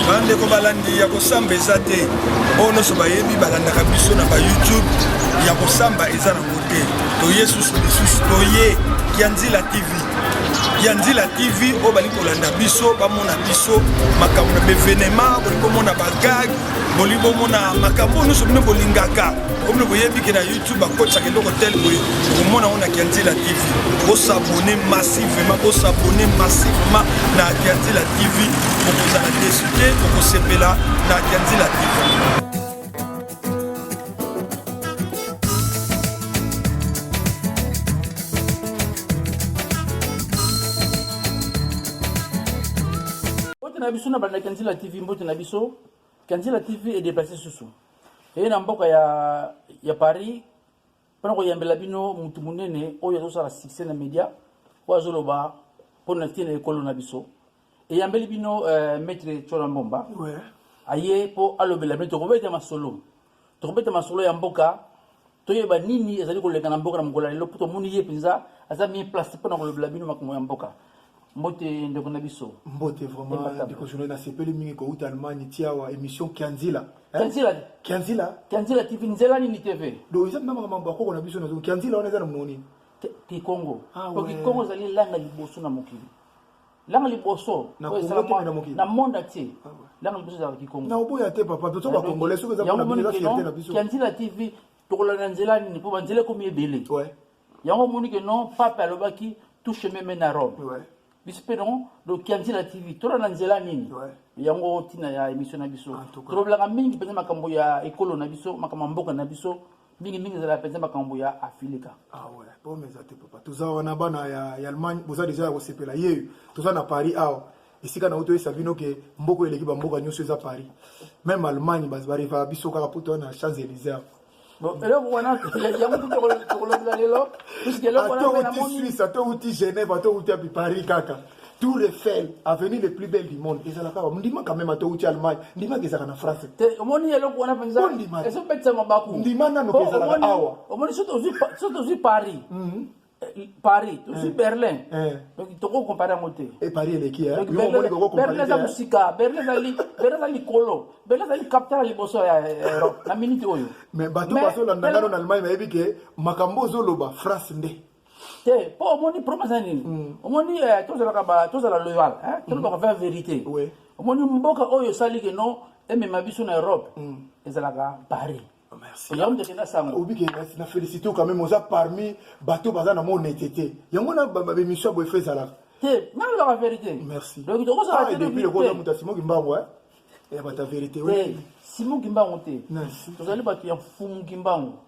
bandeko balandi ya kosamba eza te oyo nyonso bayebi balandaka biso na bayoutube ya kosamba eza nango te toye susu lisusu toye kianzila tv kianzila tv oyo balingi kolanda biso bamona biso makambo na bevenema bolingi komona bagage bolingi bomona makambo oyo nyonso bino bolingaka okomi koyebi ke na youtube bakotisaka eloko tel boye okomona yango na kianzela tv bosabone massivement bosabone massivement na kianzela tv okozala desu te okosepela na kianzela tv na biso na bandaki ya nzila tv mbote na biso Kanzila TV e déplacer susu. Et na mboka ya ya Paris pona ko yambela bino mutu munene oyo azo sala succès na media oyo azo loba pona tina ekolo na biso. E yambeli bino euh, maître Chola Mbomba. Ouais. Aye po alobela bino tokobeta masolo. tokobeta masolo ya mboka toyeba nini ezali koleka na mboka na mokolo ya lelo mpo tomoni ye mpenza aza mie place mpo na kolobela bino makambo ya mboka mbote ndeko na biso mbote vraiment ndeko journal nasepeli mingi kouta allemagne tiawa émission kianzila kianzila kianzila kianzila tv nzela nini tv do eza mpe makambo akoko na biso nazo kianzila wana eza na mononi kikongo ah, po kikongo ezali langa liboso na mokili langa liboso na oyo Congo te, mais na esalama mokili. na monde entier Ah ouais. langa liboso ezalaka kikongo na oboya te papa biso ba congolais soki eza yango pona biso eza fierté na biso kianzila tv tokolanda nzela nini mpo banzela ekomi ebele ouais yango omoni ke non pape alobaki tout chemin mène à rome ouais biso mpe non donc kianzila tv tolanda nzela nini Ouais. yango ntina ya émission na biso En tout cas. tolobelaka mingi mpenza makambo ya ekolo na biso makambo ya mboka na biso mingi mingi ezala mpenza makambo ya afilika awa ah pome eza te papa toza wana bana ya allemagne boza deja ya kosepela ye toza na paris awa esika na oto oyesa bino ke mboko eleki bamboka nyonso eza paris meme allemagne barevaka biso kaka poto na champs elysee eloko wana yango tokolobela lelo puisque eloko wana atouti suisse atouti genève atouti api paris kaka tour Eiffel avenue le plus belle du monde ezalaka awa ndimaka meme ata outi allemagne ndimaka ezalaka na france te omoni eloko wana mpenza ezobetisa mabaku ndima nanu mpe ezalaka awa omoni soki tozwi paris mhm. eh, paris tozwi eh. berlin eh. donc tokoki compare yango te paris eleki berlin eza mosika berlin eza likolo berlin ezali capital ya liboso ya europe na minute oyo mais bato bazolanda ngano na allemagne bayebi ke makambo ozoloba france nde te mpo omoni problème eza nini hmm. omoni eh, tozalaka tozala loyal hmm. tolobaka vin vérité omoni mboka oyo esali ke no emema biso na europe hmm. ezalaka paris oh, yango ndeke na sango obike na félicité quand même oza parmi bato baza na mona ete te yango na babemission ya boye fe ezalaka te nalobaka vérité merci donc tokozala ah, depuis lokola moto asimoki mbango eh? ya bato ya vérité simon kimbangu te tozali bato ya mfumu kimbangu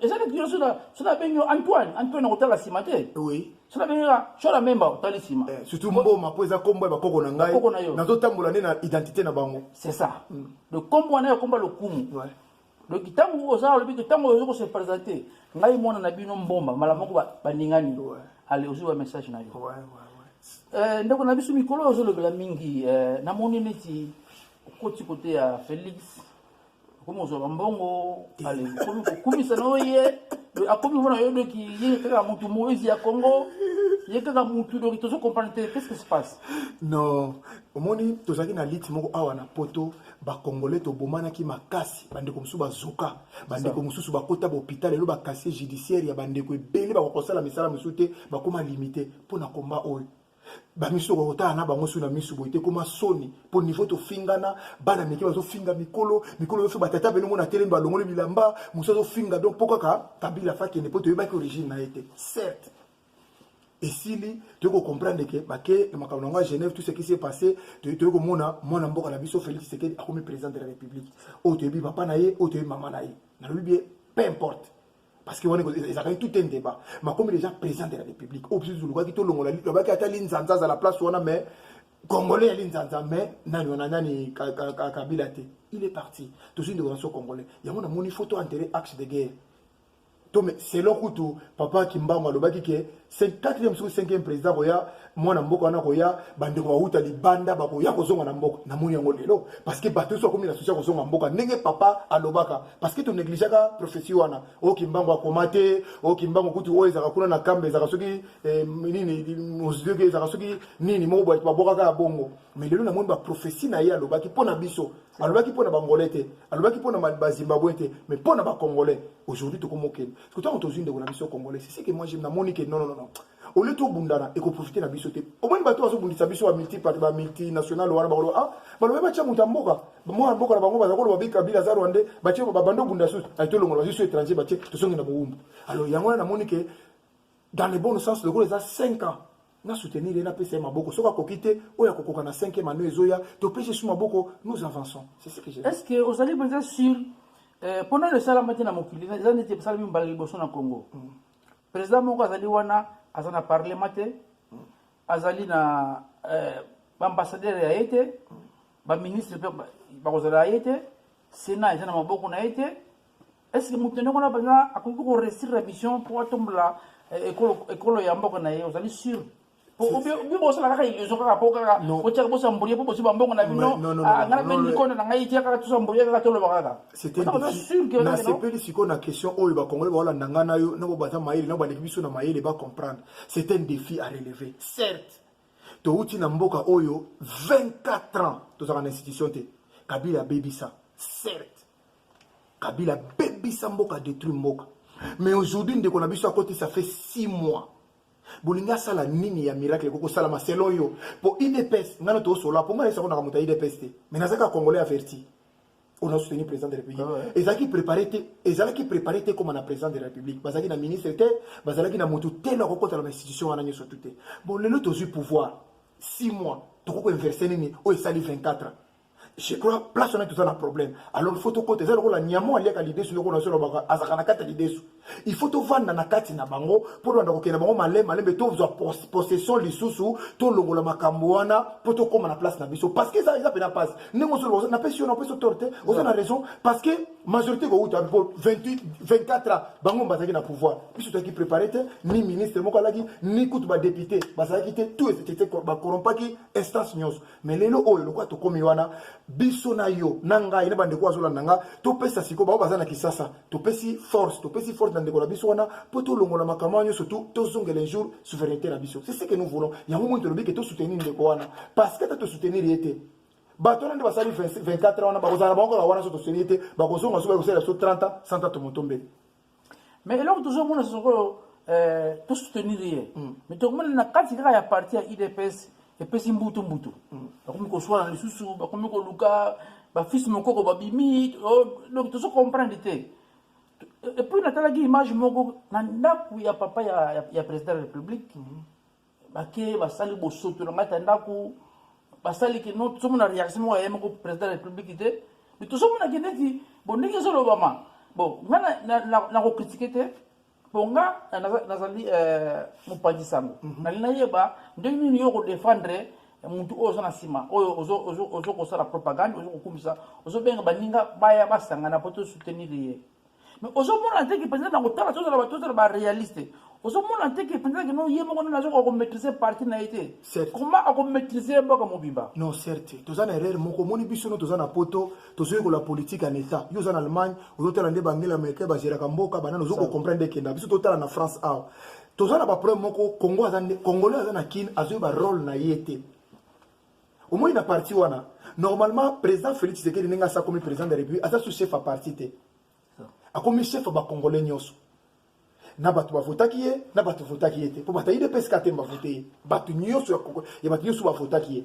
eza neti yo soki nabengi yo antoine antoine akotala nsima te soki nabengi yo shora memba otali nsima eh, surtout mboma mpo eza nkombo ya bakoko na ngai nazotambola nde na identité na bango c'est ça mm. donc nkombo wana ya nkombo ya lokumu donc ntango oza olobi ke ntango ozo kose présente ngai mwana na bino mbomba mala moko baningani ale ozwi ba message na yo eh, ndeko na biso mikolo ozolobela mingi eh, namoni neti okoti kote ya félix okomi kozwa bambongo alingi okomi kokumisa na oye akomi mona yo doki ye kaka motu moise ya congo ye kaka motu doki tozo comprendre te qu'est ce qui se passe non omoni tozalaki na lite moko awa na poto bakongole tobomanaki makasi bandeko mosusu bazoka bandeko mosusu bakota bahopital lelo bakasier judiciaire ya bandeko ebele bakokosala misala mosusu te bakoma limite mpo na komba oyo bamisu okoki kotala na bango soki na misu boye te ekoma soni mpo niveau tofingana bana mike bazofinga mikolo mikolo oyoso batata bene omona telemi balongoli bilamba mosu azofinga donc mpo kaka kabila fakende mpo toyebaki origine na ye te certes esili toyei kocomprendre ke bake na makambo nango ya genève tout ce qui s'est passé toyei komona mwana mboka na biso félix tshisekedi akomi président de la république oyo toyebi papa na ye oyo toyebi mama na ye nalobi bie peu importe parce que wana ezalaki tout un débat makomi déjà président de la république oyo biso tolukaki tolongola lobaki ata linzanza azala place wana mais congolais ya linzanza mais nani wana nani kabila te il est parti tozwi ndeko na so congolais yango namoni photo enterre axe de guerre to selon kutu papa kimbangu alobaki ke quatrième soki cinquième président akoya mwana mboka wana akoya bandeko bawuta libanda bakoya kozonga na mboka namoni yango lelo parce que bato nyonso bakomi na susi ya kozonga mboka ndenge papa alobaka parce que tonegligeaka prophétie wana o oh, kimbangu akoma te o oh, kimbangu kutu oyo ezalaka kuna na kamba ezalaka soki eh, nini mozidoki ezalaka soki nini moko bato babwakaka ya bongo mais lelo namoni baprophétie na ye alobaki mpo na biso alobaki mpo na bangolais te alobaki mpo na bazimbabwe te mais mpo na bacongolais aujourd'hui tokomokende Parce que tant qu'on ndeko na biso congolais, c'est ce que moi j'aime na monique non non non. Au lieu tout bundana et qu'on profite na biso te. Au moins bato azo bundisa biso ba multi parti ba multinational wana ba ah ba loba cha muta mboka. Moi mboka na bango ba ko loba bika bila za rwandais ba che ba bando bunda sous. Ay to longola biso étranger ba che to songi na boumbu. Alors yango na monique dans le bon sens le gros les a 5 ans. na soutenir ye napesa ye maboko soki akoki te oyo akokoka na 5 mano ezoya topesi esu maboko nous avançons c'est ce que je est-ce que ozali mpenza sur eh, mpo nano esalama te na mokili eza neti esalami mbala liboso na congo mm. président moko azali wana aza na parlement te mm. azali na eh, baambassadeur ya ye te mm. baministre mpe bakozala ya ye te sénat eza na maboko na ye te est ce que moto ndenge wana mpenza akoki koresire na mission mpo atombola eh, ekolo ya mboka na ye ozali sure bibosala kaka illusion kaka po kaka botyaka bosambulie po bozwi bambongo na bino ah, ngai mpe likonda na ngai tia kaka tosambulie kaka toloba kaka nasepeli sikoyo na question oyo bakongole baolanda ngai na yo nabo baza mayele nabo baleki biso na mayele bacomprendre c'est un défi à relever certes touti na mboka oyo 24 ans tozalaka na institution te kabila abebisa certes kabila bebisa mboka detruit mboka mais aujourd'hui ndeko na biso akoti ça fait 6 mois bolingi asala nini ya miracle ekoki kosalama selon yo mpo idps ngai na toosola mpo ngai naisako naka moto ya idps te mais nazaka congolais averti oyo nasoutenir président de république ah ezalaki préparé te ezalaki préparé te koma na président de la république bazalaki na ministre te bazalaki na moto te na kokotala na institution wana nyonso tu te bon lelo tozwi pouvoir 6 mois tokoki koinverse nini oyo esali 24 je crois place wana toza na problème alors il faut tokota eza lokola nyamo aliaka lidesu yoko na solobaka azalaka na kati ya lidesu il faut tovanda na kati na bango mpo tobanda kokenda bango malema lembe tozwa possession lisusu tolongola makambo wana mpo tokóma na place na biso parce que eza eza mpena mpasi ndenge osoloba napesi yo napesi otoro te oza na raison parce que majorité kowuta mpo 28 24 ans bango bazalaki na pouvoir biso tozalaki préparé te ni ministre moko alaki ni kutu badepute bazalaki te tout bacorrompaki instance nyonso me lelo oyo lokola tokomi wana biso na yo na ngai na bandeko azolanda nga topesa sikoyo bango baza na kisasa topesi force topesi force na ndeko na biso wana mpo tolongola makambo wana nyonso tu tozongela un jour souveraineté na biso c'est ce que nous voulons yango moni tolobi ke tosoutenir ndeko wana parce que ata tosoutenir ye te bato wana nde basali 24 ans wana bakozala na bango kaka wana so tosoutenir ye te bakozonga so bakosalela biso 30 ans 130 motombeli mais eloko tozomona sikoyo eh, tosoutenir ye mm. mais tokomona na kati kaka ya parti ya udps epesi mbutu mbutu mm. bakomi koswana lisusu bakomi koluka bafisi mokoko babimi oh, donc tozo comprendre te epuis natalaki image moko na ndako ya papa ya, ya, ya président de la république mm -hmm. bake basali bosoto na ngai ta ndako basali ke no tozomona reaction moko ya ye moko président ya république te mais tozomonaki neti bo ndenge ezolobama bon ngai nakokritike te mpo nga nazali euh, mopanzi sango mhm. nali nayeba ndenge nini yo okodefendre motu oyo oza na nsima oyo ozokosala propagande ozokokumisa ozobenga baninga baya basangana mpo tosoutenir ye mais ozomona te ke mpenza na kotala tozala bato tozala barealiste ozomona te ke mpenza kino ye moko nini azokoka komaîtrise parti na ye te koma akomaîtrise ye mboka mobimba non certe toza na erreur moko omoni biso no toza na poto tozoyekola politique en état yo oza na allemagne ozotala nde bangela américain bageraka mboka banani ozokocomprendre ekenda biso totala na france awa toza na baproblème moko congo aza congolais aza na kine azoyeba role na ye te omoni na parti wana normalement président félix tshisekedi ndenge asi akomi président de la république aza su chef ya parti te akomi chef ya bacongolais nyonso na bato bavotaki ye na bato votaki ye te mpo bato ya idps katem bavote ye bato nyonso ya bato nyonso bavotaki ye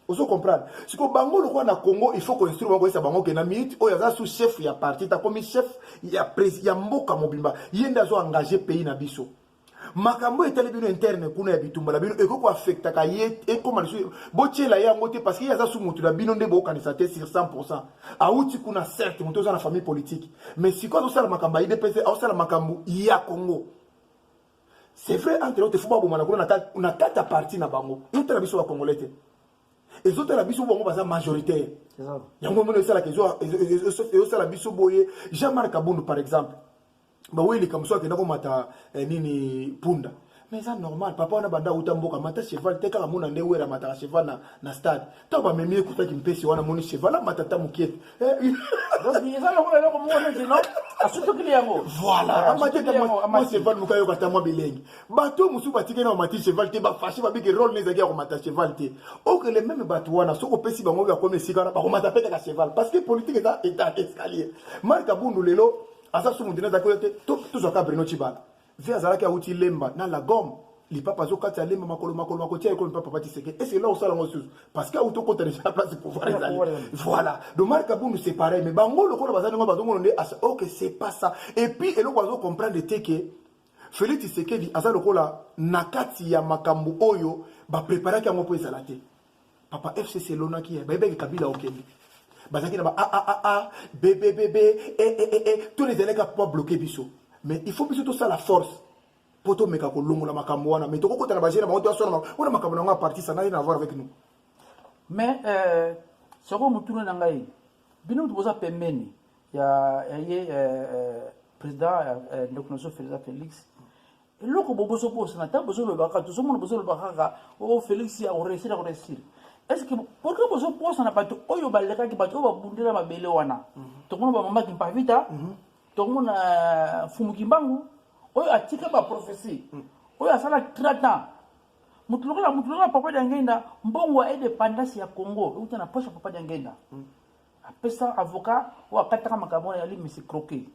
ozo comprendre siko bango lokola na congo il faut koinstruire bango koyesa bango ke na minute oyo aza sous chef ya parti takomi chef ya, ya mboka mobimba ye nde azo engage pays na biso makambo oyo etali bino interne kuna ya bitumba na bino ekoki koafektaka ye ekóma lisusu botyela ye yango te parce que ye aza su moto na bino nde bokanisa te sur 100 pourcent awuti kuna certe moto oza na famille politique mais sikoyo azosala makambo ya idps azosala makambo ya congo c'est vrai entre autres fo babomana kuna na kati ya parti na bango ezotala biso bacongolais te ezotala biso bango baza majoritaire yango mino esalaka ezosala biso boye jean marc abundu par exemple ba weli kamso akenda ko mata eh, nini punda mais eza normal papa wana banda uta mboka mata cheval te kaka mona nde wera mataka cheval na, na stade ntango bamemi ye kutaki mpesi wana moni cheval amata ta mokie te eh, eza lokola eloko moko neti no asutokili yango voilà ah, amati ta mwa cheval moka yoka ta mwa bilengi bato mosusu batiki na bamati cheval te bafashe babiki role ne ezalaki ya komata cheval te okele meme bato wana soki opesi bango oyo akomi esika wana bakomata mpe kaka cheval parce que politique eza etat escalier mark abundu lelo aza sumu dina azalaki oyo te tozwaka brino cibala ve azalaki awuti lemba na lagome lipapa azokati ya lemba makolo makolo makotia ekolo mpe papa tiseke ese ela osala yango susu parce que awuti okota deja place pouvoir ezali voilà donc marc abundu c'est pareil mais bango lokola baza ndenge bazongono nde asa ok c'est pas ça et puis eloko azo comprendre te ke felix tisekedi aza lokola na kati ya makambo oyo bapreparaki yango mpo ezala te Papa FCC elonaki ye, bayebaki Kabila okende. Bazalaki na ba a a a a b b b b e e e e tous les elèves pour bloquer biso. Mais il faut biso tout ça la force. Pour tout meka ko longola makambo wana, mais toko kota na bajena bango to sona wana makambo na nga parti ça n'a rien à voir avec nous. Mais euh soko mutuna na ngai bino mutu boza pembeni ya ya ye euh, euh, président euh, euh, ndeko noso Félix eloko bo bozobosana ntango bozolobaka tozomona bozolobaka kaka o oh, félix ya koresila koresila estce pourkui bozobosana bato oyo balekaki bato oyo babundela mabele wana mhm. tokomona bamama kimpavita mhm. tokomona euh, fumu kimbangu oyo atika baprophesie mhm. oyo asala 30 ans moto lokola moto lokola papa diangenda mbongo ya indépendance ya congo euta na poche ya papa diangenda apesa avocat oyo akataka makambo wana yali misi croquet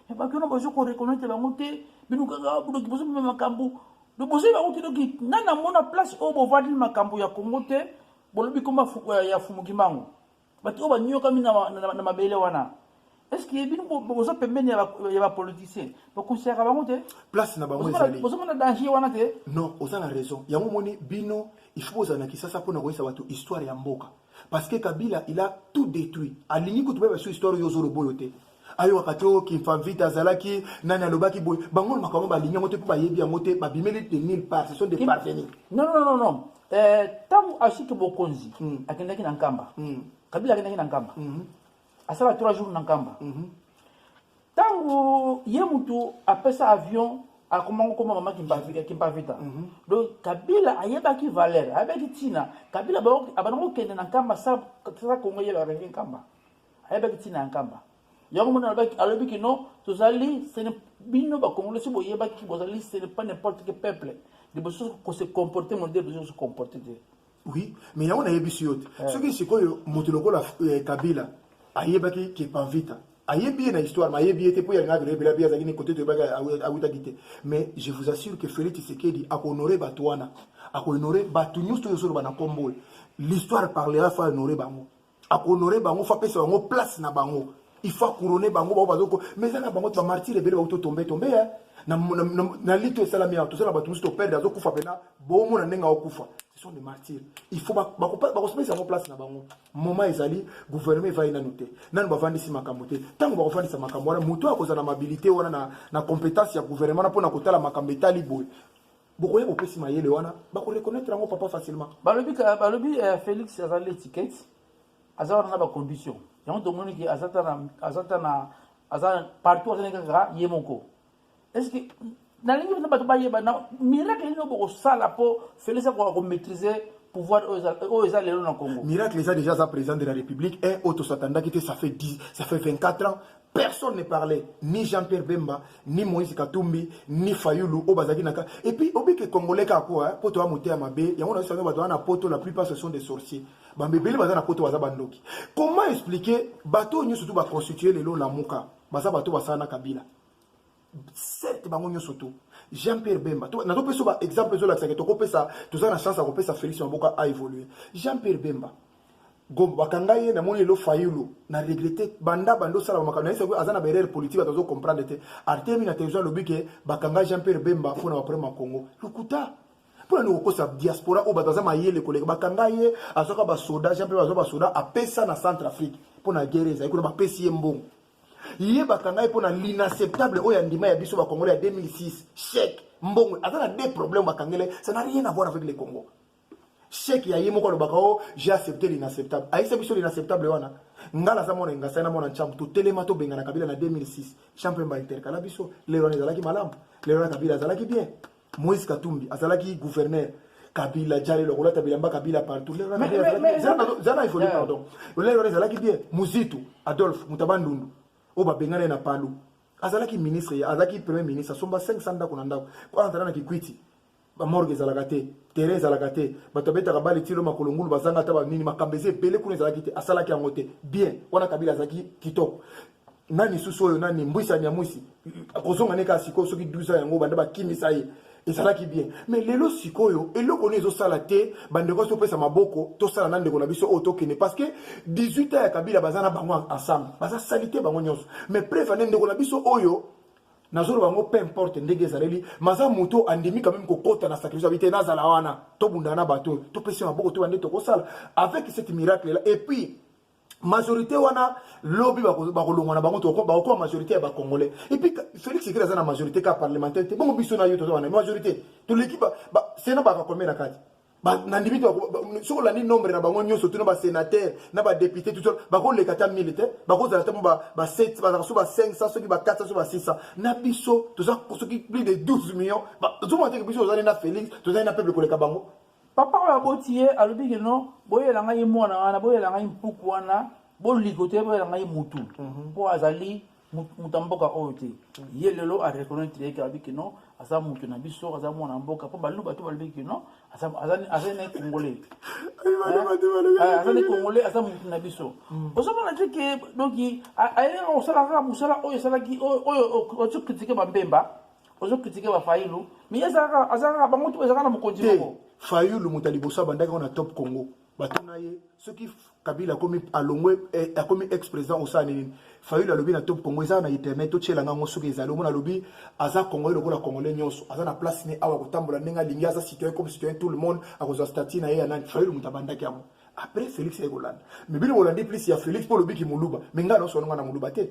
me bato wana bazo koreconnaitre bango te bino kaka bodoki bozo bima makambo bozoi bango te doki nga namona place oyo bovandeli makambo ya kongo te bolobi koma ya fumuki mango bato oyo baniokami na mabele wana Est-ce que bino boza pembeni ya ba politicien ba considéraka bango te place na bango ezali bozo mona danger wana te non oza na raison yango moni bino il faut bozala na kisasa mpona koyesa bato histoire ya mboka parce que kabila il a tout détruit alingi kutu bayeba biso histoire oyo ozoloba oyo te ayokaka te oyo kimfamvita azalaki nani alobaki boye bango na makambo balingi yango te mpo bayebi yango te babimeli de mille part ce sont des parvenus non non non non ntango eh, asiki bokonzi hmm. akendaki na nkamba hmm. kabila akendaki na nkamba hmm. asala 3 jours na nkamba ntango mhm. ye mutu apesa avion akoma kokoma mama kimpavita mhm. donc kabila ayebaki valeur ayebaki ntina kabila abanda kokende na nkamba sa kongo ye areve nkamba ayebaki ntina ya nkamba yango mona alobi kino tozali bino bakongole soki boyebaki bozali ce n'est pas n'importe quel peuple liboso kose comporte modele bozo kose comporte te Oui, mais yango nayebisi yo te. Eh. Soki sikoyo moto lokola eh, Kabila ayebaki ke Panvita ayebi ye na histoire ma ayebi ye te mpo ya ngaki loyebela mpe azalaki ne kote toyebaki awutaki te mais je vous assure que félix tshisekedi akohonore bato wana akohonore bato nyonso oyo ozoloba na nkombo oyo l'histoire parlera fo ahonore bango akohonore bango fo apesa bango place na bango il faut akourone bango bango bazoko mais eza na bango ti bamartire ebele bauto tombe tombe ya na, na, na, na lito esalami awa toza na bato mosusu toperde azokufa mpena bomona ndenge aokufa ce sont des martyrs il faut bakosepelisa yango place na bango moment ezali gouvernement evai nanu te nanu bavandisi makambo te ntango bakofandisa makambo wana moto oyo akozala na mabilité wana na, na compétence ya gouvernement na mpo na kotala makambo etali boye bokoya bopesi mayele wana bako reconnaître yango papa facilement balobi balobi eh, félix aza l'étiquette aza wana na bacondition yango tomoni ke aza ta na aza ta na aza partout azali kaka ye moko est ce que nalingi mpenza bato bayeba na miracle nini bokosala mpo félix akoka komaîtrise pouvoir oyo eza lelo na congo miracle eza déjà aza président de la république un oyo tosatandaki te ça fait 10 ça fait 24 ans personne ne parlait ni jean pierre bemba ni moïse katumbi ni fayulu oyo bazalaki na kaka et puis obike congolais kaka po po toya moteya mabe yango na biso bato wana na poto la plupart ce sont des sorciers bambebele baza na poto baza bandoki comment expliquer bato oyo nyonso tu baconstitue lelo lamuka baza bato basala na kabila certes bango nyonso tu jean pierre bemba nazopesa ba exemple ezolakisake tokopesa toza na chance ya kopesa félix maboka a évoluer jean pierre bemba bakanga ye namoni lelo fayulu na regrete banda banda osala bamakambo naye soki aza na baerreur politique bato azo comprendre te artemi na television alobi ke bakanga jean pierre bemba mpo na baproblème ya congo lokuta mpo nani kokosa diaspora oyo bato aza mayele koleka bakanga ye azwaka basoda jean pierre azwa basoda apesa na centre afrique mpo na guerre ezali kuna bapesi ye mbongo ye bakanga ye mpo na l'inacceptable oyo andima ya biso bakongole ya 2006 chèque mbongo aza na deux problème bakangele ça n'a rien à voir avec le congo chèque ya ye moko alobaka o oh, j'ai accepté l'inacceptable ayisa biso l'inacceptable wana ngai naza mwana engasai na mwana ncambu totelema tobengana kabila na 2006 champ mpemba intercala biso lelo wana ezalaki malamu lelo wana kabila azalaki bien Moïse Katumbi azalaki gouverneur kabila jale lokola tabila mba kabila partout zana ifoli pardon olai wana ezalaki bien muzitu adolphe mutaba ndundu oyo babengana na palu azalaki ministre azalaki premier ministre asomba 500 ndako na ndako mpo azala na kikwiti bamorge ezalaka te terrain ezalaka te bato abetaka bale tilo makolo ngulu bazanga ata banini makambo eza ebele kuna ezalaki te asalaki yango te bien wana kabila azalaki kitoko nani susu oyo nani mbwisa nyamwisi akozonga ne kaka sikoyo soki 12 ans yango banda bakimisa ye ezalaki bien mais lelo sikoyo eloko nini ezosala te bandeko asi topesa maboko tosala na ndeko na biso oyo tokende parce que 18 ans ya kabila baza na bango ensemble baza salite bango nyonso mais preuve ane ndeko na biso oyo nazoloba yango peu importe ndenge ezaleli maza moto andimi quand même kokota na sacrifice abi te nazala wana tobundana na bato oyo topesi maboko to bande tokosala avec cette miracle là et puis majorité wana lobi bakolongwa na bango bakokoma majorité ya bacongolais epuis félix sekele aza na majorité ka parlementaire te bongo biso na yo toza wana majorité toleki sena bakakomela kati nandimi te soki olandi nombre na bango nyonso tuna basénateur na badepute tuto bakoleka ata 1000 te bakozala ata mo ba7 bazala so ba 500 soki ba 400 so ba 600 na biso toza soki plus de 12 millions tozomona teke biso tozali na félix tozali na peuple koleka bango Papa oyo aboti ye alobi ke non boyela ngai ye mwana wana boyela ngai mpuku wana boliko te boyela ngai mutu mpo mhm. azali moto ya mboka oyo te mhm. ye lelo areconnaitre yeke alobi ke non aza moto na biso aza mwana mboka mpo baluba to balobi ke non azali na congolais eh, azali congolais aza moto na biso mhm. ozomona te ke donki ayelaka kosala kaka mosala oyo esalaki oyo otikritike bambemba ozo kritike ba fayulu miye ezalaka azalaka bango tu ezalaka na mokonzi moko fayulu moto ya liboso abandaki ngo na top congo batuna ye soki kabila akomi alongwe eh, akomi ex président osala nini fayulu alobi na top congo ezala na internet totyela ngango soki ezali omona alobi aza congolais lokola congolais nyonso aza na place ne awa kotambola ndenge alingi aza citoyen comme citoyen tout le monde akozwa stati na ye ya nani fayulu moto abandaki yango après félix aye kolanda mais bino bolandi plus ya félix mpo olobi kimoluba me ngai naosolonga na moluba te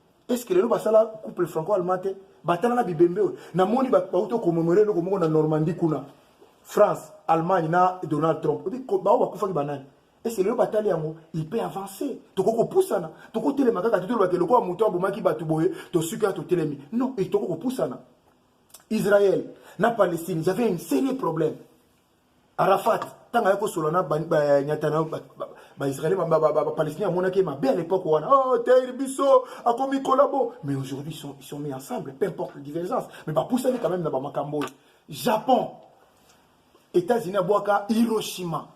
est-ce que lelo basala couple franco allemand te batala na bibembe oyo namoni bauti okomemore eloko moko na normandie kuna france allemagne na donald trump bao bakufaki banani est-ce que lelo batali yango il peut avancer tokoki kopusana tokotelema kaka te tolobaka eloko ya moto abomaki bato boye tosuki ya totelemi non e tokoki kopusana israël na palestine ils avaient un sérieux problème Arafat, tant ayaki kosolola na banyata na baisraele bapalestinien amonaki ye mabe à l'époque wana oh, tair biso akomi collabo mais aujourd'hui sont, ils sont mis ensemble peu importe les divergences mais bapusani quand même na bamakambo oyo japon états-unis abwaka hiroshima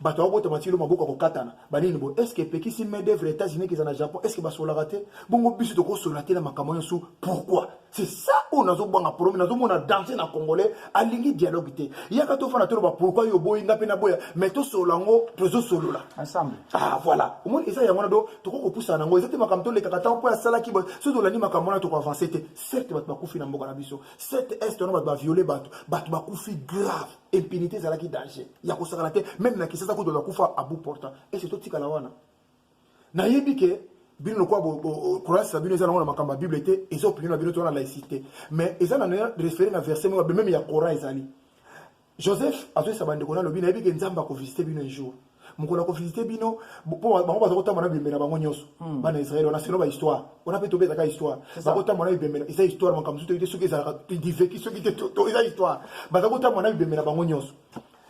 bato babotama tilo maboko ya kokatana banini boye estce epekisi main d'œuvre états-unis keza na japon estce basolaka te bongo biso tokosola te na makambo nyonso pourquoi c'est ça oyo nazobwanga problème nazomona danse na congolais alingi dialogue te yaka tofana toloba pourquoi yo boyi nga mpe naboya mais tosolola yango tozosolola ensemble ah voilà omoni eza yango wana do tokoki kopusana yango eza te makambo tolekaka ntango mpo asalaki boye soki tolandi makambo wana tokoavanse te certes bato bakufi na mboka na biso certes est wana bato baviole bato bato bakufi grave impunité ezalaki danger ya kosakana te meme na kisasa kutu bakufa abu portant ese totikala wana nayebi ke bino lokola croyance na bino eza nango na makambo ya bible te eza opinion na bino to wana laïcité mais eza na référé na verset moko meme ya coran ezali joseph azoyisa bandeko na alobi nayebi ke nzambe akovisite bino un jour mokolo ya kovisite bino mpo bango baza kotamba na bibembe na bango nyonso hmm. bana israele wana selo bahistoire wana mpe tobe ezaka histoire bakotamba na bibembe eza histoire makambo mosusu toyite soki ezalaka diveki soki te eza histoire baza kotamba na bibembe na bango nyonso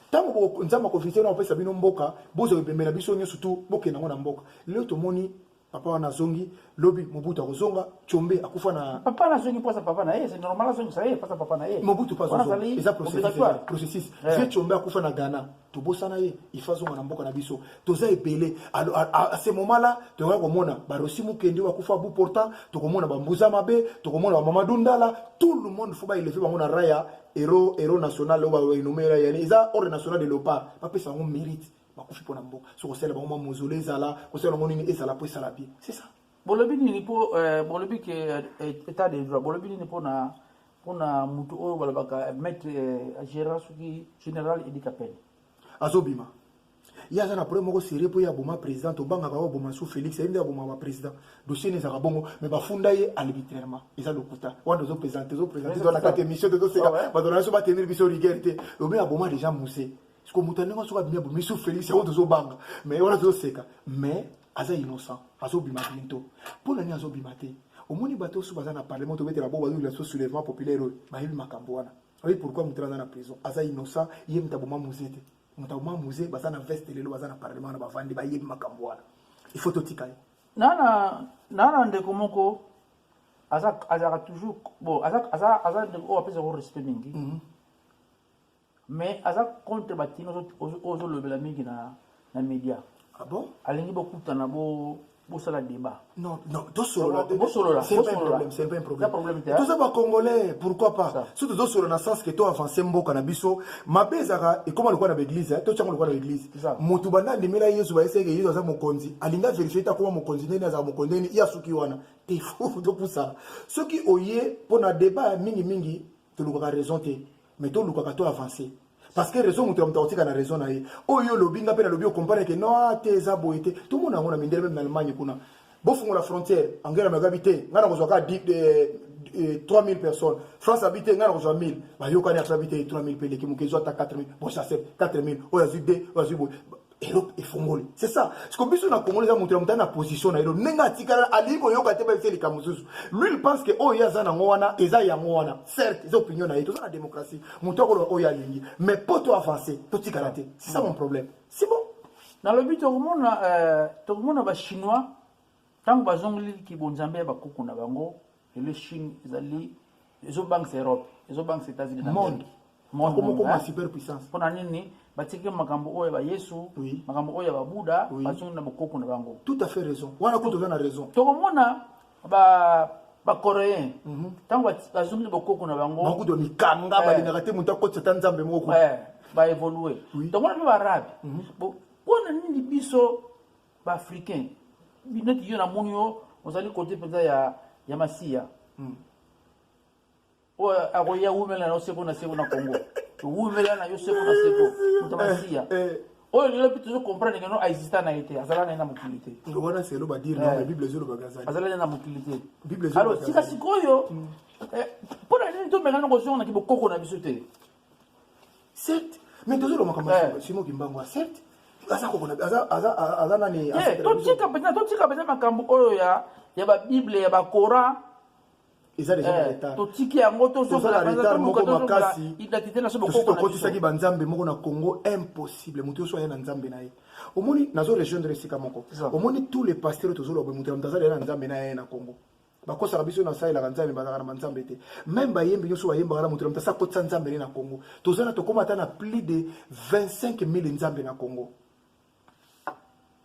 ntango nzambe akovisite wana kopesa bino mboka bozwa bibembe na biso nyonso tu bokenda yango na mboka lelo tomoni papa wana azongi lobi mobutu akozonga combe akufa na papa na azongi mposa papa na ye c'est normal azongisa ye mposa papa na ye mobutu mpe azozonga eza processus vie combe akufa na ghana tobosana ye ifa azonga na mboka na biso toza ebele a ce moment là tokoya komona barosi mokendi oyo akufa bout portant tokomona bambuza mabe tokomona bamamadu ndala tout le monde fo baeleve bango na raya hero hero national oyo baenomeela yani eza ordre national de leopard bapesa yango mérite bakufi mpo na mboka so kosala bango mwa mozolo ezala kosala yango nini ezala mpo esala bien c'est ça bolobi nini mpo euh, bolobi ke euh, état de droit bolobi nini mpo na mpo na motu oyo balobaka maître euh, gérant soki général edi kapele azobima ye aza na problème moko serie mpo ye aboma président tobangaka oyo aboma sous félix ye nde aboma baprésident dossier ne ezalaka bongo mais bafunda ye arbitrairement eza lokuta wana ozoprésente ozoprésente tozalaka te émission tozoseka bato na biso batenir biso rigueur te lobi aboma déjà muse siko moto ndenge soki abimi abimi su félix yango tozobanga mais wana tozoseka mais aza innocent azobima biento mpo na nini azobima te omoni bato osu baza na parlement tobetela bo bazolila so soulèvement populaire oyo bayebi makambo wana oyi pourquoi moto aza na prison aza innocent ye moto aboma muze te moto aboma muze baza na veste lelo baza na parlement wana bavandi bayebi makambo wana il faut totika ye nana nana ndeko moko aza azalaka toujours bon aza aza aza ndeko oyo apesaka respect mingi mm -hmm. Mais aza contre ba tino ozo lobela mingi na na media. Ah bon? Alingi bokutana bo bosala débat. Non, non, tosolola. Bosolola. C'est pas un problème, c'est pas un problème. problème te. Toza ba congolais, pourquoi pas? Surtout tosolola na sens que to avancer mboka na biso. Mabe ezaka ekoma lokola na église, hein? to chango lokola na église. Mutu banda ndimela Yesu ba eseke Yesu aza mokonzi. Alinga vérifier ta koma mokonzi nene aza mokonzi nene ya suki wana. Te fou to pousa. Soki oye pona débat mingi mingi, tolukaka raison te. mais to lukaka to avancer parce que raison moto ya moto akotika na raison na ye oyo olobi nga mpe nalobi okomprane ke no ah, te eza boye te tomona yango na mindele meme na allemagne kuna bofungola frontière angela merkel abi te ngai nakozwa kaka 3000 eh, eh, personnes france abi te ngai nakozwa 1000 bayokani ata abi te 3000 mpe eleki moke ezwa ata 4000 bochase 4000 oyo azwi 2 oyo azwi boye eloko efongoli c'est ça siko biso na kongo eza moto ya motali na position na ye do ndenge atikala alingi koyoka te bayebisa likambo mosusu lui il pense que oyo ye aza nango wana eza yango wana certes eza opinion na ye toza na démocratie moto akoloba oyo alingi mais mpo to avance totikala te c'est ça mon problème c'est bon nalobi tokomona euh, tokomona bachinois ntango bazongeli kibonzambe ya bakuku na bango lelo chine ezali ezobangisa europe ezobangisa états-unis monde akomokoma super puissance mpo na nini batiki makambo oyo ya bayesu oui. makambo oyo ya babuda oui. bazongi na bokoko na bango tout à fait raison wana kutu oza na raison tokomona ba bacoréen mhm. ntango mm -hmm. bazongi na bokoko na bango bakutu ya mikanga eh. balingaka te moto akotisa ata nzambe moko eh. baevolue oui. tokomona mpe baarabe mm -hmm. mpo na nini biso ba africain neti yo namoni yo ozali kote mpenza ya, ya masiya hmm. oyo akoya wumela na yo seko na seko na congo wumela na yo seko na seko moto masiya eh, eh. oyo lelo mpe tozo comprendre keno aexista na ye te azala na ye na mokili te wana selo badire eh. bible ezolobaka azali azala na ye na mokili te alors sika sikoyo mpo hmm. na nini tomekana kozonga na kibokoko na biso te certes mais tozoloba makambo ya eh. simo kimbangu ya certes aza kokona aza aza aza nani eh, totika mpenza totika mpenza makambo oyo ya ya babible ya bacoran eza deja na eh, retard totiki yango tozozala retard moko makasi identité na so bokoko tokotisaki ba nzambe moko na Congo impossible mutu yoso aya na nzambe na ye omoni nazo rejoindre esika moko omoni tous les pasteurs tozoloba mutu ya mutu azali na nzambe na ye na Congo bakosaka biso na salelaka nzambe bazalaka na banzambe te meme bayembi nyonso bayembaka na moto na moto asa akotisa nzambe ne na congo toza na tokóma ata na plus de 25 000 nzambe na congo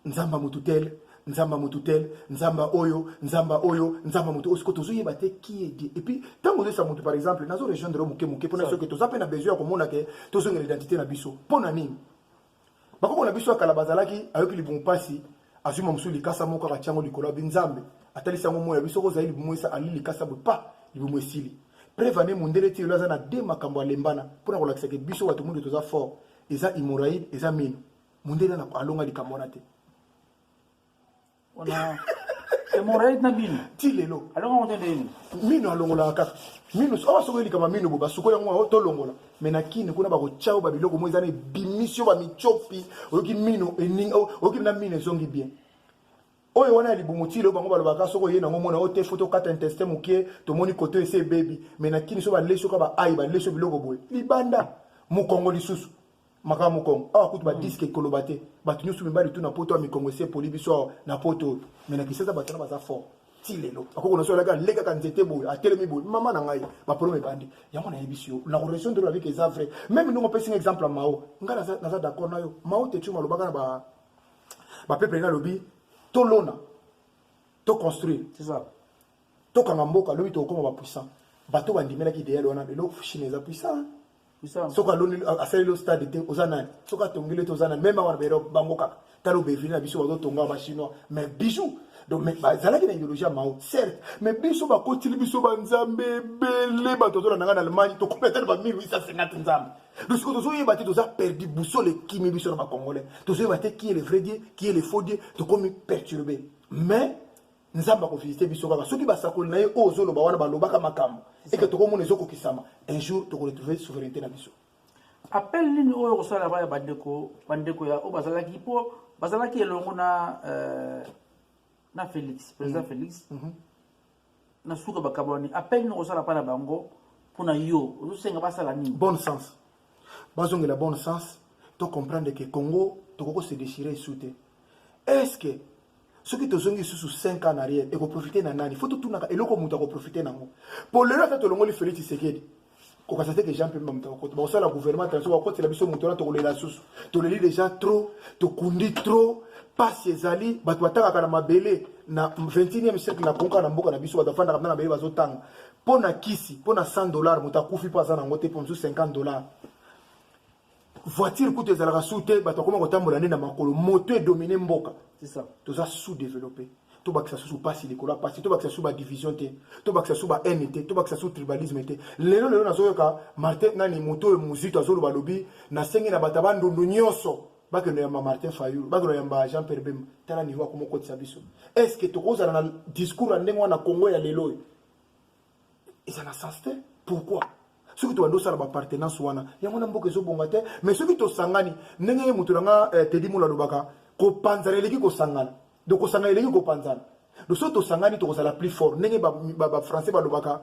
nzambe ya motu tel nzambe ya motu tel nzambe oyo nzambe oyo nzambe ya motu oyo sikoyo tozoyeba te qui est dieu epuis ntango ozoyesa motu par exemple nazo rejoindre yo moke moke mpona soki toza mpe na besoin ya komona ke tozongela identité na biso mpo na nini bakoko na biso ya kala bazalaki ayoki libumu mpasi azwi mwa mosusu likasa moko kaka tyango likolo ya binzambe atalisi yango moi ya biso kozali libumu esa ali likasa boye pa libumu esili preve ane mondele ti lelo aza na de makambo alembana mpo na kolakisa ke biso bato mondo toza fort eza imoraide eza mino mondele alonga likambo wana te Wana hemorrhoïde na bino. Ti lelo. Alonga moto nde yini? Mino alongolaka kaka. Mino awa oh, sokoyeli kama mino bo basukola yango oh, tolongola. Me na kini kuna bakotya yo babiloko moko eza na ebimisi yo bamityopi oyoki mino eninga oh, oyoki na mino ezongi bien oyo wana ya libumu ti leo bango balobaka soki oye nango omona oyo te fo tokata intestin moke tomoni koto esi ebebi me na kini so balesi oka baayi balesi yo biloko boye libanda mokongo lisusu makambo mokongo awa kutu badiske mm. ekoloba te bato nyonso mibali tu na poto ya mikongo esi epoli biso awa na poto oyo me na kisasa bato wana baza fort ti lelo akoko na so alaki alekaka nzete boye atelemi boye mama na ngai baproblème ebandi yango nayebisi yo na relation de la vie eza vrai meme ndongo opesi nga exemple ya mao ngai naza d'accord na yo mao tetu malobaka na ba bapepele nalobi tolona toconstruire tokanga mboka lobi tokokoma bapuissant bato bandimelaki ideyale wana lelo chine eza puissant soki aloni asaleli yo stade te oza nani soki atongeli te oza nani meme awa na baerope bango kaka tala obevili na biso bazotonga bachinois mais bijou donc mais bazalaki na idéologie ya mao certes mais biso bakotili biso banzambe ebele bato azolanda ngai na allemagne tokomi ata na ba 1850 nzambe donc sikoyo tozoyeba te toza perdu boussole ekimi biso na bacongolais tozoyeba te qui est le vrai dieu qui est le faux dieu tokomi perturbe mais nzambe akovisite biso kaka soki basakoli na ye oyo ozoloba wana balobaka makambo eke tokomona ezokokisama un jour tokoretrouve souveraineté na biso appel nini oyo kosala baya bandeko bandeko ya oyo bazalaki mpo bazalaki elongo na euh, na félix président mm. félix mm -hmm. na suka bakabolani appel nini okosala mpa na bango mpo na yo ozosenga basala nini bon sens bazongela bon sens to comprendre que Congo toko ko se déchirer sous te est-ce que soki tozongi lisusu 5 ans en arrière ekoprofite na nani fo totunaka eloko moto akoprofite nango mpo lelo ata tolongoli félix tshisekedi kokasa te ke jean pemba moto akokota bakosala gouvernement transo bakokotela biso moto wana tokolela susu toleli déjà trop tokundi trop mpasi ezali bato batangaka na mabele na 21e siècle na konka na mboka na biso bato bafandaka mpe na mabele bazotanga mpo na kisi mpo na 100 dollar moto akufi mpo aza na yango te mpo mosusu 50 dollar voiture kutu ezalaka su te bato akoma kotambola nde na makolo moto edomine mboka toza sous développe tobakisa susu mpasi likolo ya mpasi tobakisa susu badivision te tobakisa susu bahaine te tobakisa susu tribalisme te lelo lelo nazoyoka martin nani moto oyo mozito azoloba alobi nasengi na bato ya bandundu nyonso bakende yamba martin fayulu bakende yamba jean pierre bemba tala niveau akoma okotisa biso est ce que tokozala na discours ya ndenge wana congo ya lelo oyo eza na sens te pourquoi soki tobandi osala bapartenance wana yango na mboka ezobonga te mais soki tosangani ndenge ye moto na nga eh, tedi mola alobaka kopanzana eleki kosangana donc kosangana eleki kopanzana donc soki tosangani tokozala plus fort ndenge bafrançais ba, ba, ba balobaka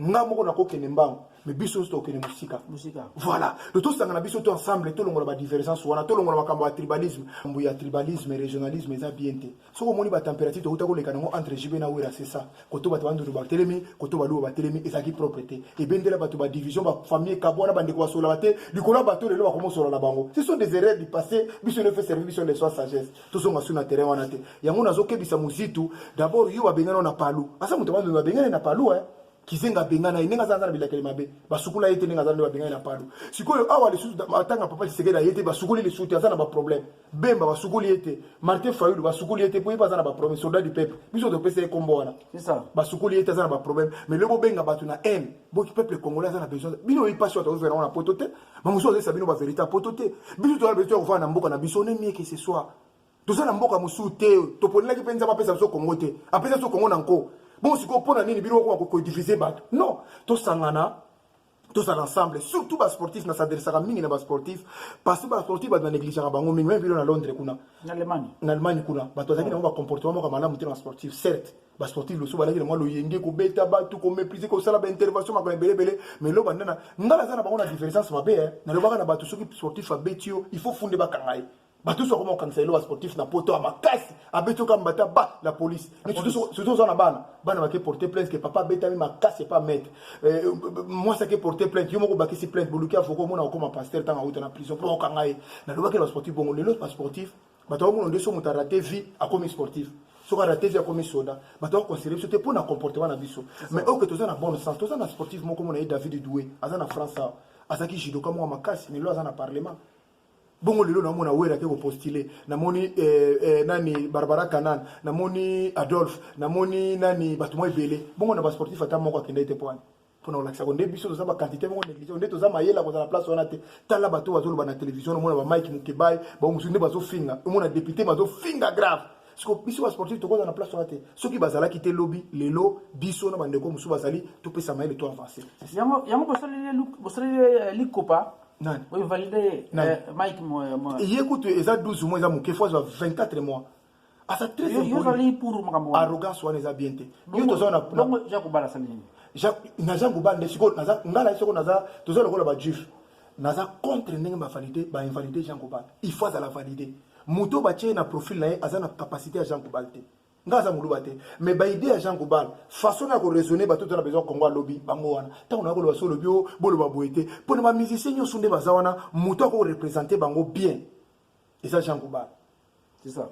nga moko nakokende mbangu mais biso nyonso tokende mosika voilà to tosangana biso to ensemble tolongola badivergence wana tolongola makambo ya tribalisme makambo ya tribalisme régionalisme eza bien te soki omoni ba temperature tokota koleka nango entre JB na Wera c'est ça koto bato bandundu batelemi koto baluba batelemi ezalaki propre te ebendela bato ba division ba famille kabwana bandeko basolaka te likolo ya bato lelo bakoma osola na bango ce sont des erreurs du passé biso nde fait service biso nde sois sagesse tozonga su na terrain wana te yango nazokebisa mozitu d'abord yo babengana na palu asa moto bandundu babengana na palu eh kizenga abengana ye ndenge aza aza na bilakeli mabe basukula ye te ndenge aza nde babengani na palu sikoyo awa lisusu atanga papa lisekeli aye te basukoli lisusu te aza na baproblème Bemba basukoli ye te, Martin Fayulu basukoli ye te, mpo ye mpe aza na baproblème. Soldat du peuple, biso topesa ye nkombo wana, basukoli ye te, aza na baproblème. Mais lelo bobenga bato na haine, bo peuple congolais aza na besoin. Bino oyebi mpasi oyo tozozwa yango na poto te, bamosusu bazolesa bino baverité ya poto te. Biso toza na besoin ya kofanda na mboka na biso, on est mieux que ce soit. Toza na mboka mosusu te, toponelaki mpe Nzambe apesa biso Congo te, apesa biso Congo na nko. Bon sikoyo mpo na nini bino bokoma kodivise bato? Non, tosangana tozala ensemble surtout basportif na s'adressaka mingi na basportif parce que basportif bato banegligeaka bango mingi meme bino na londres kuna na allemagne kuna bato bazalaki nango bacomportement moko malamu te na basportif certes basportif loso balaki na mwa loyenge kobeta bato komeprise kosala baintervention makambo ebele ebele mais lo bandana ngai naza na bango na divergence mabe eh. nalobaka na bato soki sportif abeti yo il faut funde bakanga ye bato nyonso bakoma kokangisa lelo basportif na poto ya makasi abeti oka mbata ba la police surtout oza na bana bana bake porte plainte ke papa abetami makasi epa maître eh, mwasi ake porte plainte yo moko obakisi plainte boluki avoka omona okoma pasteur ntango auta na prison mpo bakokanga ye nalobaki na basportif bongo lelo basportif bato bakomona nde so moto arate vie akomi sportif soki arate vie akomi soda bato bakonsidere biso te mpo na comportement na biso mais oke toza na bonne sens toza na sportif moko mona ye david doue aza na france awa azalaki judoka moko makasi lelo aza na parlement bongo lelo namona wera ke kopostule namoni eh, eh, nani barbara canan namoni adolphe namoni nani bato mwa ebele bongo na basportif ata moko akendaki te mpo wana mpona kolakisa ko nde biso toza bakantite moko négligé nde toza mayele ya kozala place wana te tala bato oyo bazoloba na télévision omona bamike mokebai bango mosusu nde bazofinga omona député bazofinga grave siko biso basportif tokoza na place wana te soki bazalaki te lobi lelo biso na bandeko mosusu bazali topesa mayele to avance yango bosaleli eh, likopa nani oyo valide euh, mike ye kutu eza 12 mois eza moke fo azwa 24 mois aza très impoli pour makambo arrogance wana eza bien te yo toza na bongo ja kobala sali nini na ja kobala nde siko naza nga na siko naza toza lokola ba juif naza contre ndenge ba valide ba invalide Jean Kobal il faut azala valide moto ba tie na profil na ye aza na capacité ya Jean Kobal te nga aza muluba te mais ba idée ya Jean Gobal façon na ko raisonner ba tout na besoin Congo alobi bango wana tango na ko loba solo bio boloba boye te mpo na ba musiciens nyoso nde baza wana moto ako représenter bango bien eza Jean Gobal c'est ça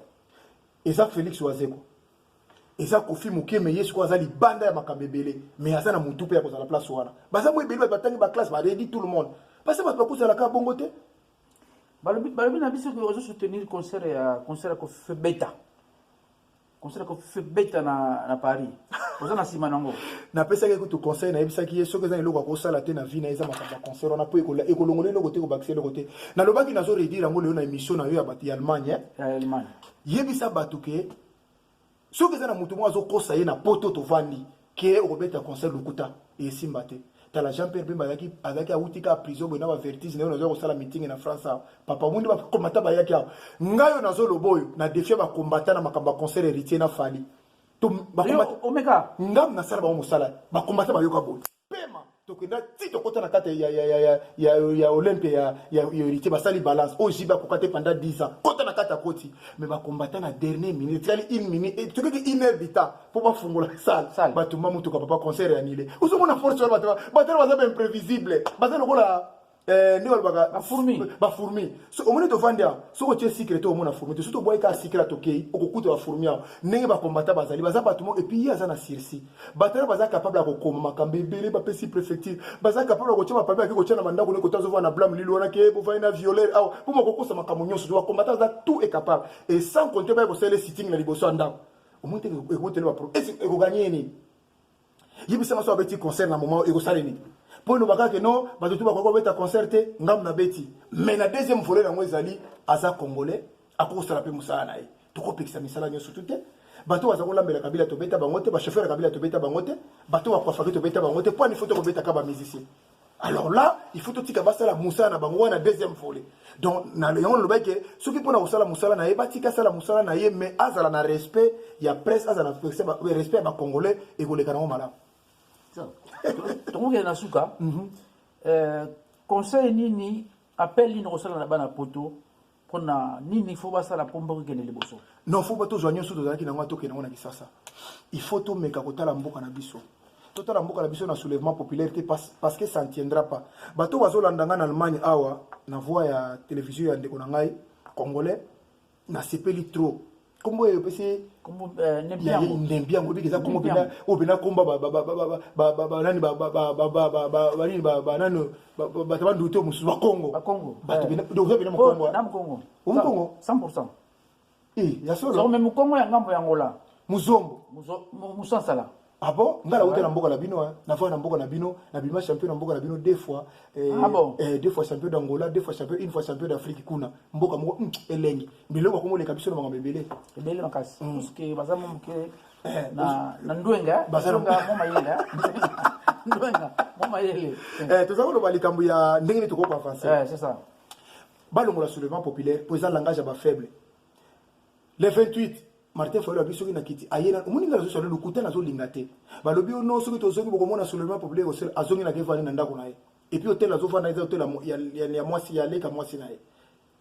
eza Felix Wazeko eza kofi moke me ye sikoyo aza libanda ya makambo ebele me aza na motu mpe ya kozala place wana baza mo ebele bato batangi baklasse baredi tout le monde parce bato bakozalaka bongo te balobi balobi na biso ke ozo soutenir concert ya concert ya kofebeta concert ya kofebeta na na paris oza na nsima nango napesaki ye kutu conseil nayebisaki ye soki eza na eloko akosala te na vie na ye eza makambo ya concert wana mpo ekolongola eloko te ekobakisa eloko te nalobaki nazo redire yango lelo na émission na yo ya bato ya allemagne yebisa bato ke soki eza na moto moko azokosa ye na poto tovandi ke okobeta concert lokuta esimba te tala jean pierre bemba azalaki azalaki awuti kaka prison boye na bavertige na yo nazwa kosala meeting na france awa papa omundi bakombata bayaki awa ngai oyo nazoloba oyo na defia bakombata na makambo ya concert héritier na fali omeka ngam nasala bango mosala bakombata bayoka boye pema tokenda ti tokota na kati ya, ya, ya, ya, ya, ya olympe ya, ya, ya héritier basali balance oyo jibe akoka te pendant 10 ans kota na kati akoti me bakombata na dernier minute etikali une minute eh, tokeki une heure dita mpo bafungola sale batumba motuka papa concert ya nile ozomona force wana bato batala baza baimprévisible baza lokola Eh, ndenge balobaka bafourmi so omoni tofandi awa soki otie sikre te omona fourmi te soki tobwaki kaka sikre tokei okokuta bafourmi awa ndenge bakombata bazali baza bato moko epuis ye aza na sursi batala baza capable ya kokoma makambo ebele bapesi préfecture baza capable ya kotia bapapie ake kotia na bandako ne kota azovaa na blame lilo wana ke bovai na violer awa mpo makokosa makambo nyonso bakombata aza tout est capable et sans compte baye kosalela sitting na liboso ya ndako omoni te ekotele bapro ekoganye ye nini yebisa maso abeti concert na moment ekosala nini mpo eloba kaka no bato tu bakoki kobeta concert te ngambo na beti mais na deuxième volet yango ezali aza congolais akoki kosala mpe mosala na ye tokopekisa misala nyonso tu te bato baza kolambela kabila tobeta bango te bachauffeur ya kabila tobeta bango te bato bakwafaki tobeta bango te mpo ani fo tokobetaka bamusicien alors là il faut totika basala mosala na bango wana deuxième volet donc na yango nalobaki ke soki mpona kosala mosala na ye batika asala mosala na ye mais azala na respect ya presse azala na respect ya bacongolais ekoleka nango malamu tokokende na suka mhm. euh, conseil nini appel nini okosala na bana poto pona nini fo basala mpo mboka ekende liboso non fo tozwa nyonso tozalaki nango atokende yango na kisasa il faut tomeka kotala mboka na biso totala mboka na biso na soulèvement populaire te parce que ça ne tiendra pas bato oyo bazolanda ngai na allemagne awa na voix ya télévision ya ndeko na ngai congolais nasepeli trop kombo oyo opesi ndembi yango ebiki eza kombo mpena oyo mpena komba banani banini banani bato banduki to mosusu bakongo bato oza mpena mokongo omokongo 100 ya solo me mokongo ya ngambo ya ngola muzombo musansala Ah bon Nga la na mboka na bino hein. Na na mboka na bino, na bima champion na mboka na bino deux fois. Eh, ah bon eh, deux fois champion d'Angola, deux fois champion, une fois champion d'Afrique kuna. Mboka moko hmm, elengi. Biloko ko moleka biso na makambo ebele. Ebele makasi. Hmm. Parce que baza mo moke eh, na na ndwenga, baza na mo mayela. Ndwenga, mo mayele. Eh, tozako loba likambo ya ndenge ni toko ko avancer. Eh, c'est ça. Balongola soulèvement populaire, pour ça langage ya ba faible. le 28 martin fayulu abi soki na kiti aye na omoni nga nazosala lokuta nazolinga te balobi yo no soki tozongi bokomona soulèvement populaire osel azongi na kevani na ndako na ye epuis hôtel azofanda eza hôtel ya mwasi ya leka mwasi na ye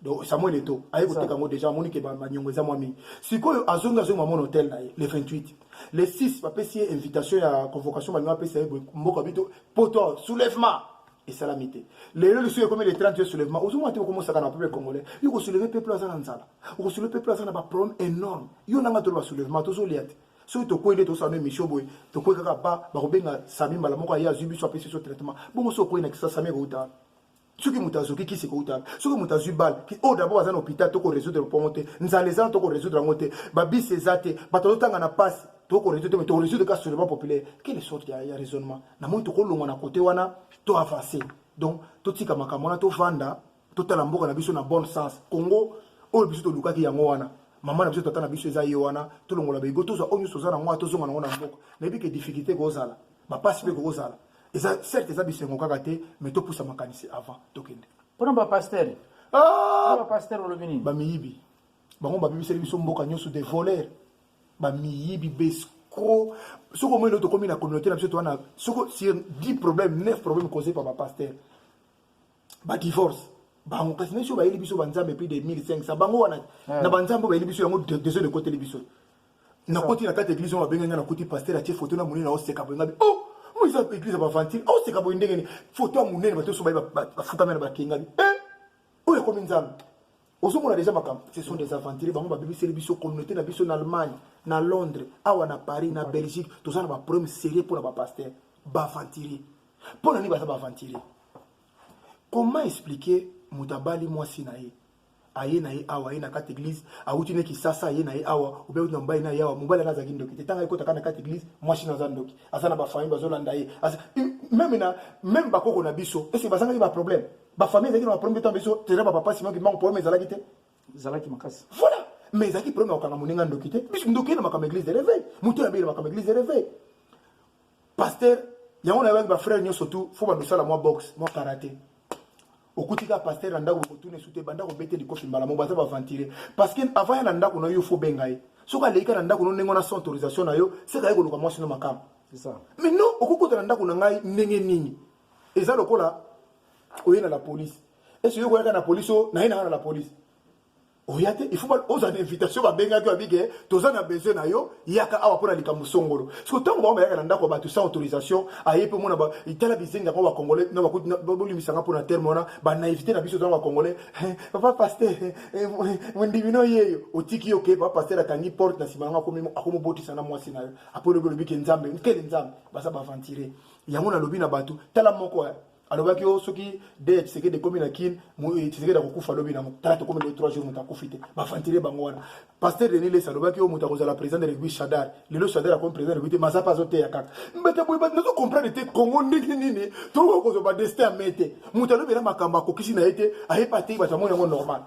donc samuel eto aye koteka yango déjà amoni ke banyongo eza mwa mingi sikoyo azongi azongi mamona hôtel na ye le 28 le 6 bapesi ye invitation ya convocation balinga bapesa ye mboka bito poto soulèvement esalami te lelo lisusu ekomi le 30 juillet soulèvement ozomona te okomosaka na peuple congolais yo kosouleve peuple aza na nzala okosouleve peuple aza na baproblème énorme yo nanga toloba soulèvement tozolia te soki tokwei nde tosala na émission boye tokwei kaka ba bakobenga sami mbala moko aye azwi biso apesi biso traitement bongo soki okwei na kisa sami ekouta wana soki moto azoki kisi ekouta wana soki moto azwi bale oyo dabord aza na hôpital toko résoudre mpongo te nzala eza na toko résoudre yango te babisi eza te bato azotanga na mpasi toko résoudre te mais toko résoudre ka soulèvement populaire quelle sorte ya, ya raisonnement na moi tokolongwa na kote wana to avance donc totika makambo wana tovanda totala mboka na biso na bon sens congo oyo biso tolukaki yango wana mama na biso tata na biso eza ye wana tolongola baigo tozwa oyo nyonso oza na yango tozonga nango na mboka nayebi ke difficulté ekozala bapasi mpe kokozala eza certes eza bisengo kaka te mais topusa makanisi avant tokende mpona bapastere ah! bapastere olobi nini bamiyibi bango babebiseli biso mboka nyonso de voler bamiyibi bescro soki omoi lelo tokomi na communauté na biso toa na soko sur 10 problème 9 problème causé par bapaster badivorce bango kasi nesi oyo bayeli biso banzambe plus de 1500 bango wana na banzambe oyo bayeli biso yango dezo ekoteli biso nakoti na kati eglise oyo babengi ngai nakuti paster atie foto na monene naoseka boye ngabi oh mo eza eglise ya bavantile aoseka boye ndenge ni foto ya monene bato nyonso baye bafukami na bakengami eh! oyo ekomi nzambe ozomona deja makambo ce sont des aventuriers bango babebiseli biso communauté na biso na allemagne na londres awa na paris na belgique toza na baproblème sérieux mpo na bapaster baaventurier mpo na nini baza baaventurier comment expliquer moto abali mwasi na ye aye na ye awa aye na kati église awuti ne kisasa aye na ye awa obe awuti na mobali na ye awa mobali ana azalaki ndoki te ntango ayekotaka na kati église mwasi na aza ndoki aza na bafamille bazolanda ye meme na meme bakoko na biso ese bazangaki baproblème ba famille ezalaki na ba problème temps biso tere ba papa Simon Kimbangu problème ezalaki te ezalaki makasi voilà mais ezalaki problème ya kokanga moninga ndoki te biso ndoki na makambo église de réveil moto ya bele makambo église de réveil pasteur yango na yebaki ba frère nyonso tout faut bando sala mwa boxe mwa karaté okuti kaka pasteur na ndako kotuna esu te banda kobete likofi mbala moko baza baventire parce que avant ya na ndako na yo faut benga ye soki aleki kaka na ndako no ndenge wana sans autorisation na yo sekaye koluka mwasi no makambo mais non okokota na ndako na ngai ndenge nini eza lokola oye na la police esi oye koyaka na police o naye nanga na la police oya te ifo ozwa na invitation babengaki yo abike toza na besoin na yo yaka awa mpo na likambo songolo siko ntango bango bayaka na ndako ya bato sans autorisation aye mpe omona tala bizengi yango bacongolais na bakuti bolimbisa nga mpo na terme wana banaivité na biso tozanga bacongolais papa paster eh, eh, mondimi no yeyo otiki yo ke papa paster akangi porte na nsima yango akomobotisa na mwasi na yo apolobi olobike nzambe nkele nzambe baza baventure yango nalobi na bato tala moko eh. alobaki o oh, soki de tisekedi ekomi na kin eh, tisekedi akokufa lobi nango tala tokomi le 3 jour moto akufi te bavantile bango wana paster denis lesa alobaki o oh, moto akozala président de rugby shadar lelo shadar akomi président de rugby te maza mpe azoteya kaka mbete boye bato nazo comprendre te congo ndenge nini tokoki kozwa badestin ya me te moto alobela makambo akokisi na ye te ayebi atei bato amoni yango normal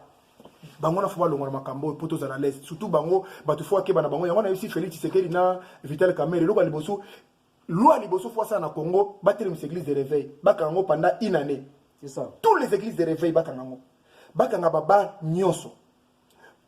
bango na fo balongwa na makambo oyo mpo tozala lese surtout bango bato fo akeba na bango yango nayebisi félix tshisekedi na vital kamere eloko ya liboso Loi liboso fois ça na Congo, batelemisa église de réveil, bakanga ngo pendant une année. C'est ça. Tous les églises de réveil bakanga ngo. Bakanga baba nyonso.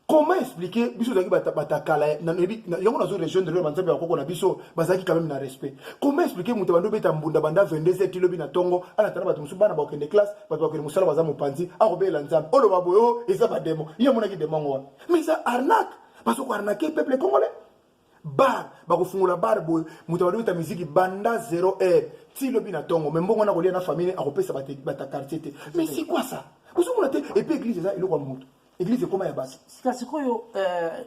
Comment expliquer biso zaki batakala na yango nazo région de l'Europe nzambe bakoko na biso bazaki quand même na respect. Comment expliquer mutu bando beta mbunda banda 22 heures tilobi na tongo ala tana bato musu bana ba okende classe bato bakende musala baza mopanzi akobela nzambe olo baboyo eza ba demo ye monaki demo ngo wana mais ça arnaque parce qu'on arnaque peuple congolais bar bakofungola bar boye moto abadobeta miziki banda 0 heure ti lobi na ntongo me mbongo wana kolia na famille akopesa bata quartier te mais c'est quoi ça ozomona te epe église eza eloko ya moto église ekoma ya basi sika sikoyo euh,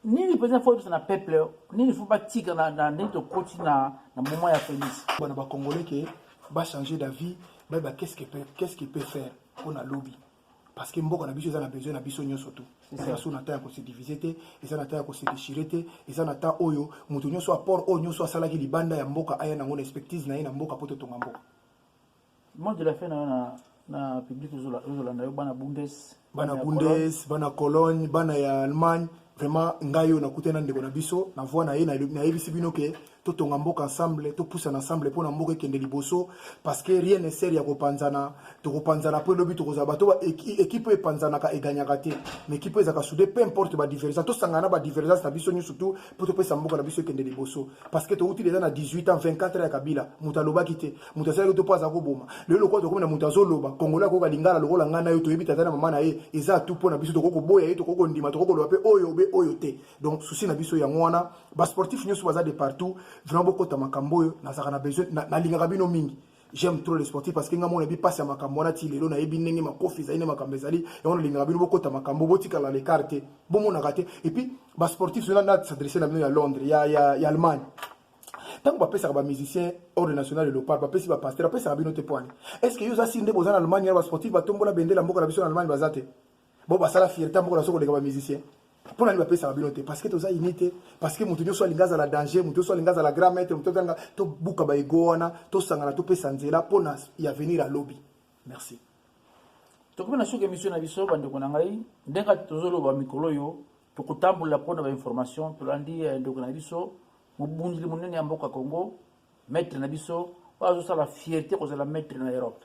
nini mpenza fo oyebisa na peuple nini fo batika na ndenge tokoti na moment ya félix bana bacongolais ke bachange d'avis bayeba qu'est ce qui peut faire mpo na lobi parce que mboka na biso eza na besoin na biso nyonso tu eza so na temps ya kosedivise te eza na temps ya kosedeshire te eza na temps oyo moto nyonso apport oyo nyonso asalaki libanda ya mboka aya nango na expectise na ye na mboka mpo totonga mboka mot de la fin nayo na na public ozolanda yo bana bundes bana bundes bana cologne bana ya allemagne vraiment ngai oyo nakutani na ndeko na biso na voi na ye nayebisi bino ke totonga mboka ensemble topusana ensemble mpo na mboka ekende liboso parce que rien ne sert ya kopanzana tokopanzana mpo elobi tokozala bato ekipe oyo epanzanaka eganyaka te mais ekipe oyo ezalaka soude peu importe badivergence tosangana na badivergence na biso nyonso tu mpo topesa mboka na biso ekende liboso parce que touti deja na 18 ans 24 ans ya kabila moto alobaki te moto asalaki to mpo aza koboma lelo lokola tokomi na moto azoloba kongolo akoyoka lingala lokola ngai na yo toyebi tata na mama na ye eza tu mpo na biso tokoki koboya ye tokoki kondima tokoki koloba mpe oyo obe oyo te donc souci na biso yango wana basportif nyonso baza de partout vraiment bokota makambo oyo nazalaka na besoin nalingaka bino mingi j'aime trop le sportif parce que nga mona bi passe ya makambo wana ti lelo nayebi ndenge makofi ezali nde makambo ezali yango nalingaka bino bokota makambo botikala lecart te bomonaka te et puis basportif zona na s'adresse na bino ya londres ya, ya, ya allemagne ntango bapesaka bamusicien ordre national ya lopar bapesi bapaster bapesaka bino te poani est ce que yo oza siri nde boza na allemagne wana basportif batombola bendela mboka na biso na allemagne baza te bo basala fierté moko nazo koleka ba musicien mpo nani bapesaka bino te parce que toza ini te parce que moto nyonso alingi azala danger moto nyonso alingi azala grand maître moto azanga tobuka baego wana tosangana topesa nzela mpo na ya venir ya lobi merci tokomi na suka émission na biso bandeko na ngai ndenge tozoloba mikolo oyo tokotambola mpo na bainformation tolandi eh, ndeko na biso mobundeli monene ya mboka congo maître na biso oyo azosala fierté kozala maître na europe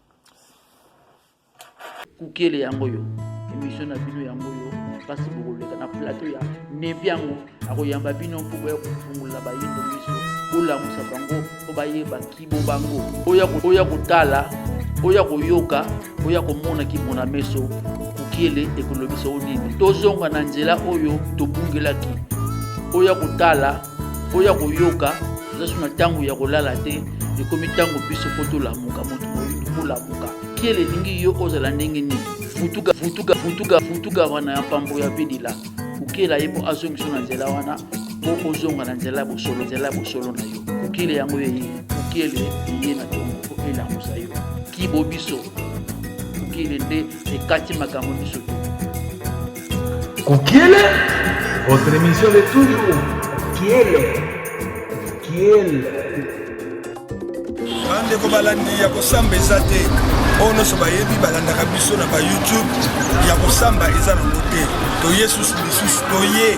kukele yango yo emission na bino yango yo mpasi bokoleka na plateau ya nebi yango akoyamba bino mpo boya kofungola bayindo miso bolamusa bango mpo bayeba kibo bango oya kotala oya koyoka oya komona kimona meso kukele ekolobisa o nini tozonga na nzela oyo tobungelaki oya kotala oya koyoka eza so na ntango ya kolala te ekomi ntango biso mpo tolamuka moto moyindo molamuka kiele elingi yo ozala ndenge nini futuka futuka futuka futuka wana ya mpambo ya bidila kokela ye mpo azongisa na nzela wana mpo ozonga na nzela ya bosolo nzela ya bosolo na yo kokele yango eye kokele eye na tongo mpo elamusa yo kibo biso kokele nde ekati makambo biso te Kukiele, votre émission de toujours. Kukiele, Kukiele. bandeko balandi ya kosamba eza te oyo nyonso bayebi balandaka biso na bayoutube ya kosamba eza nango te toye susu lisusu toye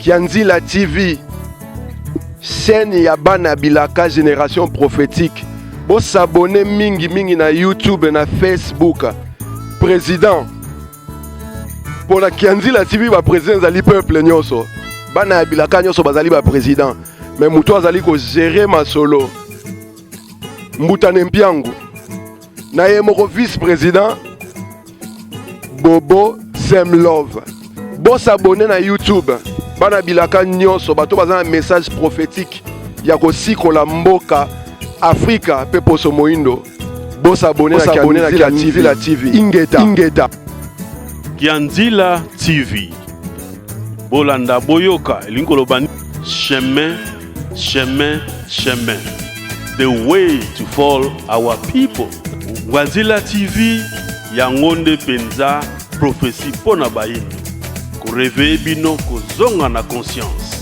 Kianzila TV, chaîne ya bana bilaka generation prophétique. Bo s'abonner mingi mingi na YouTube na Facebook. Président pour la Kianzila TV ba président ezali peuple nyoso. Bana ya bilaka nyoso bazali ba président. Mais mutu azali ko gérer masolo. Mbuta Nempiangu. na ye moko vice president bobo sem love bosabone na youtube bana bilaka nyonso bato baza na message prophétique ya kosikola mboka afrika mpe poso moindo bosabone na kianzila tv ingeta, ingeta. kianzila tv bolanda boyoka elingi koloba chemin Chemin, chemin, the way to fall our people. Wazila TV, yango nde penza prophetie mpo na bayindo. Koreveye bino kozonga na conscience.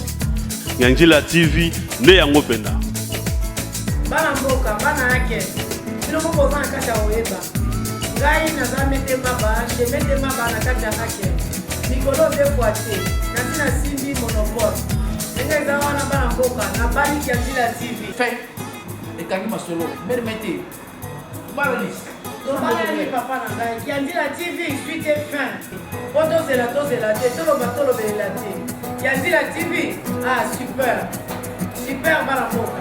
Nyanjila TV nde yango mpenza. Bana mboka, bana yake, bino moko boza na kati ya koyeba. Ngai naza mete maba, je mete maba na kati ya hake. Mikolo de boite, nasi na simbi monopole. Ndenge eza wana bana mboka, na bali kia Villa TV. Fait, ekangi masolo, mbele mete. Balalis. Tobalani papa na ngai, kia Villa TV, suite et fin. Po tozela tozela te, toloba tolobelela te. Kia Villa TV, ah super. Super bana mboka.